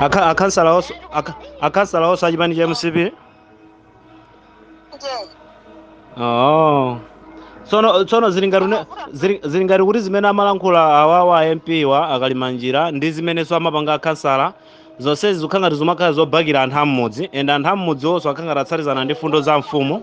Akha- akhansala onse akha- akhansala onse achipani cha mcp Yes. oh. tsono tsono zili ngati une- zili- zili ngati kuti zimene amalankhula awawa a mp wa Nkhotakota njira ndi zimenenso amapanga akhansala zonsezi zikhala ngati zimakhala zobakira anthu am'mudzi and anthu am'mudzi onse akhala ngati atsatizana ndi fundo za mfumu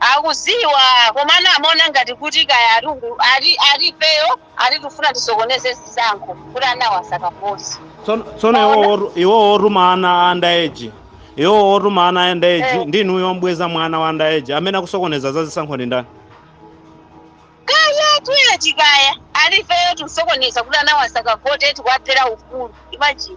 Akuziwa komano amaona ngati kuti kaya ati ifeyo ati tufuna tisokoneze zisankho kuti anawa asakavote. Tsono tsono iwo Maona? otu- iwo otuma ana underage. Iwo otuma ana underage Eh. ndi inuyo obweza mwana wa underage amene akusokoneza za zisankho ndi ndani? Kaya tuye tikaya ati ifeyo tusokoneza kuti anawa asakavote tikuwaphera ufulu. Imagine.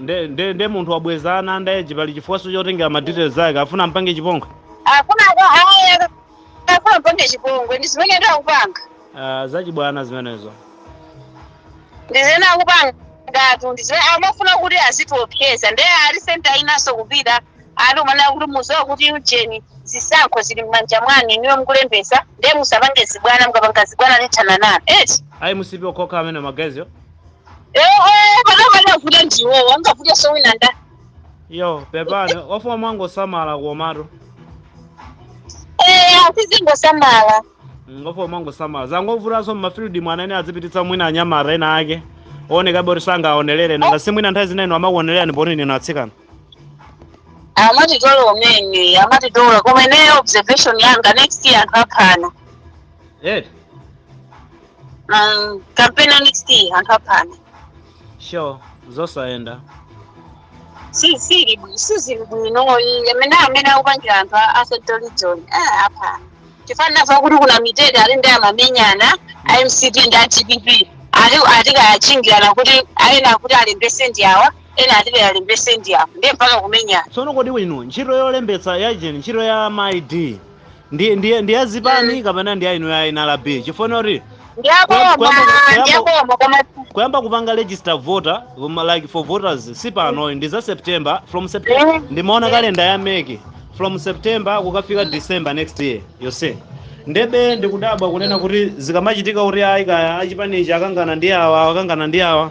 nde nde nde munthu wabweza ana underage pali chifukwanso chotengera ma details ake afuna ampange chipongwe afuna aya afuna ampange chipongwe ndi zimenezo akupanga uh, zachibwana zimenezo ndi zimene akupangatu ndi zimene amafuna kuti azitiopseza nde ali center inanso kupita ali umanena kuti muziwa kuti ujeni zisankho zili m'manja mwanu inuyo mukulembesa nde musapange zibwana mukapanga zibwana tithana nanu eti ayi mcp yokhayokha amene magaziyo ehe panapa akuvuta ndiwowo angavute sowina nda yo pepani wafuna mwangosamala komatu eya sizingosamala ngofuna mwangosamala zangovutanso mmafield mwana ene azipititsa mwina anyamata ena ake ooneka bho oti angawaonelere nanga si mwina nthawi zina ayi amakuonelerani poti ndinu atsikana amatitola mmene amatitola koma ineyo observation yanga next year anthu aphana eti Mm, campaign ya next year anthu aphana sure zosayenda sizili bwino sizili bwino iye amene amene akupangira anthu a- a central region eh, apa chifukwa fa kuti ku Namitete ati ndi amamenyana a mcp ndi a dpp ati ati kaya achingirana kuti ayi ena akuti alembese ndi awa ena ati alembese ndi awa ndiye mpaka kumenyana tsono kodi inu ntchito yolembetsa ya ujeni ntchito ya ma id ndi ndi ndi ya zipani mm. kapena ndi ya inu ya NRB chifukwa kuti kuyamba kupanga register voter um, like for voters si panoyi ndi za september from september mm. ndimaona kalenda ya MEC from september kukafika december next year yose ndebe ndikudabwa kunena kuti zikamachitika kuti ayi kaya achipanichi akangana ndi awa akangana ndi awa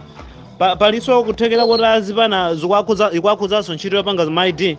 palinso kuthekera kuti azipani zikuwakhudzanso ntchito yopanga ma id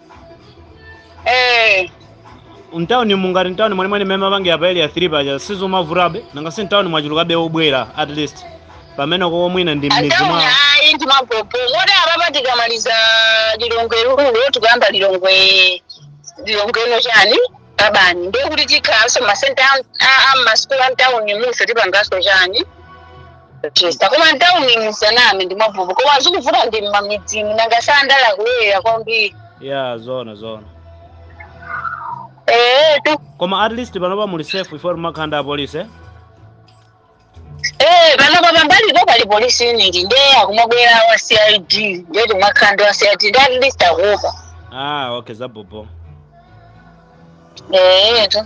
eh mtauni mungati mtauni mwenimweni mmene mmapangira pa area 3 paja sizomavutabe nanga si mtauni mwachuluka be obwera at least pamene koko mwina ndi mmidzi mwa ataona ayi ndi mavuto moti apapa tikamaliza lilongwe rural tikuyamba lilongwe lilongwe ino chani urban ndiye kuti tikhalanso masenta a- a- a masukulu a mtawuni muno tipanganso chani Chester koma mtauni musaname ndi zabobo koma zikuvuta ndi mmamidzimu nanga sandala akulowerera kwambiri ya zona zona ee tu koma at least panopa muli safe ife timakhanda apolisi eh? ee panopa pambalipo pali police unit nde akumabwera wa cid nde timakhanda wa cid nde at least akuopa ah okay zabobo ee tu